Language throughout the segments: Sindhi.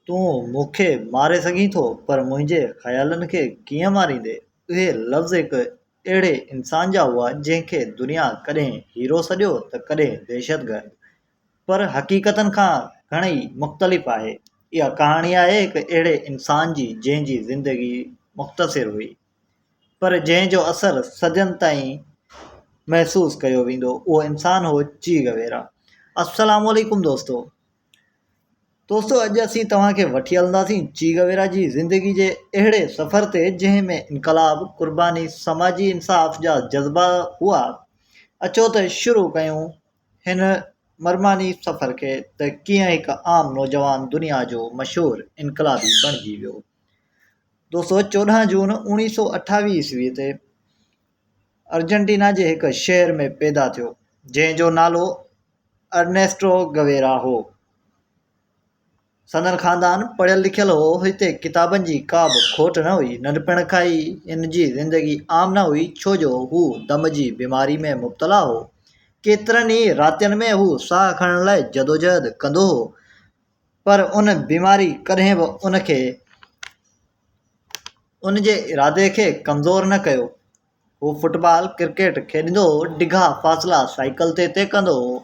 تون مون کي ماري سگهين ٿو پر منهنجي خيالن کي ڪيئن ماريندين؟ اهي لفظ هڪ اهڙي انسان جا هئا جنهن کي دنيا ڪڏهن هيرو سڏيو ته ڪڏهن دهشتگرد. پر حقيقتن کان گهڻيئي مختلف آهي. اها ڪهاڻي آهي هڪ اهڙي انسان جي جنهن جي زندگي مختصر هئي پر جنهن جو اثر صدين تائين محسوس ڪيو ويندو اهو انسان هو چيغ ويرا. السلام عليڪم دوستو! دوستو اڄ اسين توهان کي وٺي هلنداسين چيگويرا جي زندگي جي اهڙي سفر تي جنهن ۾ انقلاب قرباني سماجي انصاف جا جذبا هئا اچو ته شروع ڪيون هن مرماني سفر کي ته ڪيئن هڪ عام نوجوان دنيا جو مشهور انقلابي بڻجي ويو دوستو چوڏهن جون اوڻيهه سو اٺاويهه عيسوي تي ارجنٽينا جي هڪ شهر ۾ پيدا ٿيو جنهن جو نالو ارنيسٽو گويرا هو سندن خاندان پڙهيل لکيل هو هتي ڪتابن جي ڪا به کوٽ نه هئي ننڍپڻ کان ئي هن جي زندگي عام نه هئي ڇو جو هو دم جي بيماري ۾ مبتلا هو ڪيترن ئي راتين ۾ هو ساهه کڻڻ لاء جدوجهد ڪندو هو پر ان بيماري ڪڏهن به ان کي ان جي ارادي کي ڪمزور نه ڪيو هو فٽ بال ڪرڪيٽ کيڏندو هو ڊگها فاصلا سائيڪل تي طئي ڪندو هو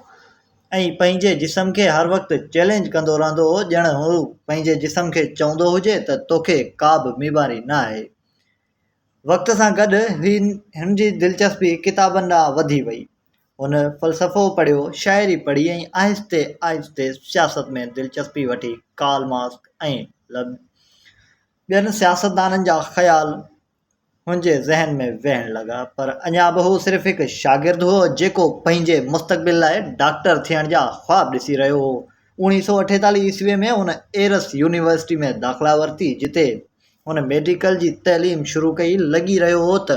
۽ پنهنجي جسم کي هر وقت چئلينج ڪندو رهندو هو ڄڻ هو پنهنجي جسم کي چوندو هجي ته توکي ڪا به بيماري نه آهي وقت سان گڏ هن جي دلچسپي ڪتابن ڏانهن وڌي وئي هن فلسفو پڙهيو، شاعري پڙهي ۽ آهستي آهستي سياست ۾ دلچسپي وٺي. ڪارل مارڪس ۽ ٻين سياستدانن جا خيال هن جي ذهن ۾ ويهڻ لڳا، پر اڃا به هو صرف هڪ شاگرد هو، جيڪو پنهنجي مستقبل لاء ڊاڪٽر ٿيڻ جا خواب ڏسي رهيو هو. اوڻيهه سؤ اٺيتاليهه عيسويء ۾ هن ايرس يونيورسٽيء ۾ داخلا ورتي، جتي هن ميڊيڪل جي تعليم شروع ڪئي، لڳي رهيو هو ته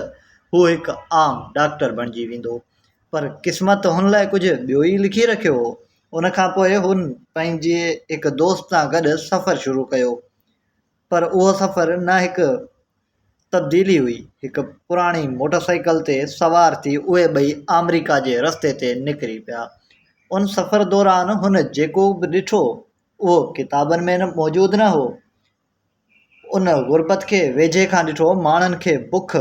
هو هڪ عام ڊاڪٽر بڻجي ويندو، پر قسمت هن لاء ڪجهه ٻيو ئي لکي رکيو هو. ان کان پوء هن پنهنجي هڪ دوست سان گڏ سفر شروع ڪيو، پر اهو سفر نه هڪ تبديلي هئي، هڪ پراڻي موٽر سائيڪل تي سوار ٿي اهي ٻئي آمريڪا جي رستي تي نڪري پيا. ان سفر دوران هن جيڪو به ڏٺو، اهو ڪتابن ۾ موجود نه هو. ان غربت کي ويجهي کان ڏٺو، ماڻهن کي بک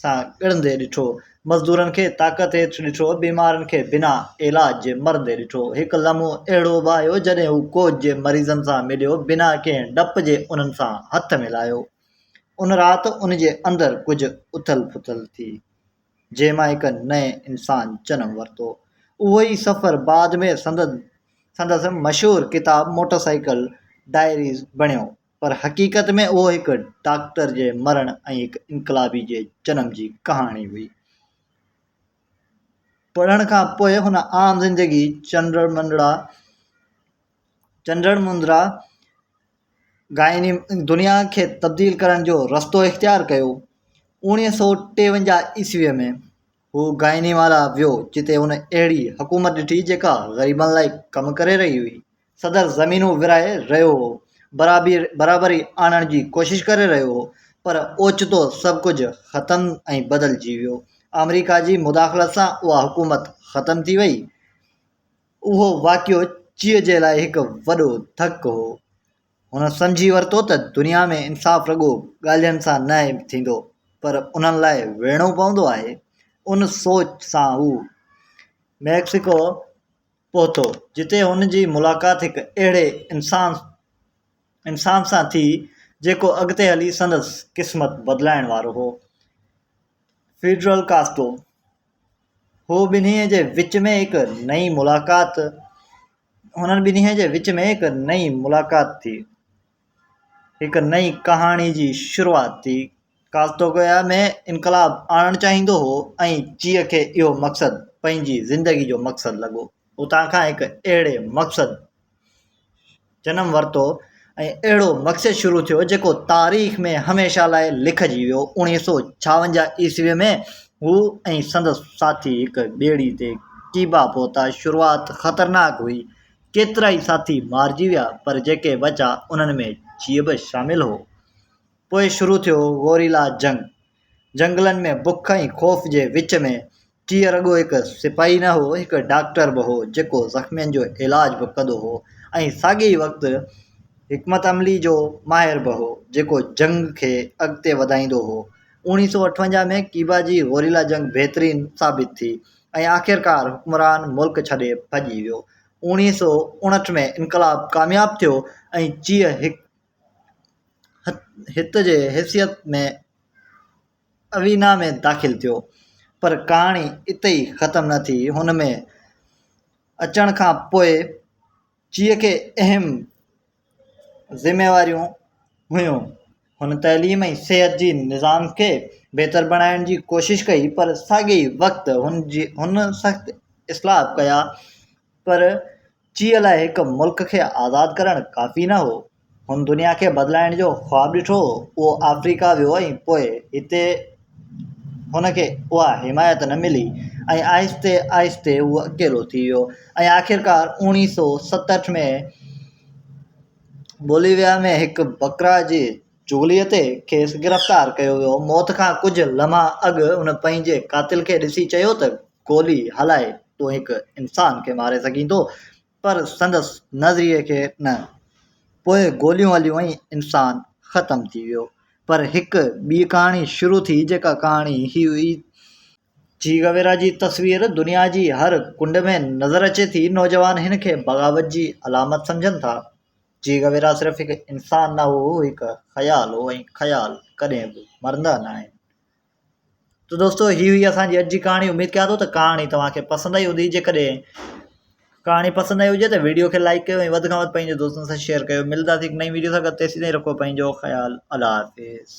سان ڳڙندي ڏٺو، مزدورن کي طاقت هيٺ ڏٺو، بيمارن کي بنا علاج جي مرندي ڏٺو. هڪ لمحو اهڙو به آيو، جڏهن هو ڪوچ جي مريضن سان مليو، بنا ڪنهن ڊپ جي انهن سان هٿ ملايو. ان رات ان جي اندر ڪجهه اٿل پٿل ٿي. جنهن مان هڪ نئين انسان جنم ورتو. اهو ئي سفر بعد ۾ سندن سندس مشهور ڪتاب موٽر سائيڪل ڊائريز بڻيو. پر حقيقت ۾ اهو هڪ ڊاڪٽر جي مرڻ ۽ هڪ انقلابي جي جنم جي ڪهاڻي هئي. پڙهڻ کان پوء هن عام زندگي چنڊ منڊڙا، چنڊڻ مندرا گائني دنيا کي تبديل ڪرڻ جو رستو اختيار ڪيو اوڻيهه سو ٽيونجاهه عيسويء ۾ هو گائني مالا ويو جتي هن اهڙي حڪومت ڏٺي جيڪا غريبن لاء ڪم ڪري رهي هئي صدر زمينون ورهائي رهيو هو برابري آڻڻ جي ڪوشش ڪري رهيو هو پر اوچتو سڀ ڪجهه ختم ۽ بدلجي ويو آمريڪا جي مداخلت سان اها حڪومت ختم ٿي وئي اهو واقعو چيء جي لاء هڪ وڏو ڌڪ هو. هن سمجهي ورتو ته دنيا ۾ انصاف رڳو ڳالهين سان نه ٿيندو، پر انهن لاء ويهڻو پوندو آهي. ان سوچ سان هو ميڪسيڪو پهتو، جتي هن جي ملاقات هڪ اهڙي انسان انسان سان ٿي، جيڪو اڳتي هلي سندس قسمت بدلائڻ وارو هو. فيڊرل ڪاسترو، هو ٻنهي جي وچ ۾ هڪ نئين ملاقات هنن ٻنهي جي وچ ۾ هڪ نئين ملاقات ٿي هڪ نئين ڪهاڻي جي شروعات ٿي ڪالتوگويا ۾ انقلاب آڻڻ چاهيندو هو ۽ چيء کي اهو مقصد پنهنجي زندگي جو مقصد لڳو اتان کان هڪ اهڙي مقصد جنم ورتو ۽ اهڙو مقصد شروع ٿيو جيڪو تاريخ ۾ هميشه لاء لکجي ويو اوڻيهه سؤ ڇاونجاهه عيسوي ۾ هو ۽ سندس ساٿي هڪ ٻيڙي تي ڪيوبا پهتا شروعات خطرناڪ هئي ڪيترائي ساٿي مارجي ويا پر جيڪي بچا انهن ۾ جيئي به شامل هو پوء شروع ٿيو گوريلا جنگ جهنگلن ۾ بک ۽ خوف جي وچ ۾ ٽيئر رڳو هڪ سپاهي نه هو، هڪ ڊاڪٽر به هو، جيڪو زخمين جو علاج به ڪندو هو ۽ ساڳئي ئي وقت حڪمت عملي جو ماهر به هو، جيڪو جنگ کي اڳتي وڌائيندو هو. اوڻيهه سؤ اٺونجاهه ۾ ڪيوبا جي گوريلا جنگ بهترين ثابت ٿي ۽ آخرڪار حڪمران ملڪ ڇڏي ڀڄي ويو. اوڻيهه سؤ اڻهٺ ۾ انقلاب ڪامياب ٿيو ۽ چيء هڪ هت جي حيثيت ۾. اوينا ۾ داخل ٿيو پر ڪهاڻي اتي ئي ختم نه ٿي هن ۾ اچڻ کان پوء چيء کي اهم ذميواريون هيون هن تعليم ۽ صحت جي نظام کي بهتر بڻائڻ جي ڪوشش ڪئي پر ساڳئي وقت هن جي هن سخت اصلاح ڪيا پر چيء لاء هڪ ملڪ کي آزاد ڪرڻ ڪافي نه هو. هن دنيا کي بدلائڻ جو خواب ڏٺو هو. اهو آفريڪا ويو ۽ پوء هتي هن کي اها حمايت نه ملي ۽ آهستي آهستي هو اڪيلو ٿي ويو ۽ آخرڪار اوڻيهه سؤ ستهٺ ۾ بوليويا ۾ هڪ بڪرا جي چغليء تي کيس گرفتار ڪيو ويو. موت کان ڪجهه لمحا اڳ هن پنهنجي قاتل کي ڏسي چيو ته گولي هلائي تون هڪ انسان کي ماري سگهين ٿو پر سندس نظريي کي نه. پوء گوليون هليون ۽ انسان ختم ٿي ويو. پر هڪ ٻي ڪهاڻي شروع ٿي جيڪا ڪهاڻي هي هئي. چي گويرا جي تصوير دنيا جي هر ڪنڊ ۾ نظر اچي ٿي. نوجوان هن کي بغاوت جي علامت سمجهن ٿا. جي غويرا صرف هڪ انسان نه هو، هو هڪ خيال هو ۽ خيال ڪڏهن به مرندا نه آهن. تو دوستو هي هئي اسان جي اڄ جي ڪهاڻي اميد ڪيان ٿو ته ڪهاڻي توهان کي پسند آئي هوندي جيڪڏهن ڪهاڻي پسند آئي هجي ته ويڊيو کي لائڪ ڪيو ۽ وڌ کان وڌ پنهنجي دوستن سان شيئر ڪيو ملنداسي هڪ نئين ويڊيو سان گڏ تيسين تائين رکو پنهنجو خيال الله حافظ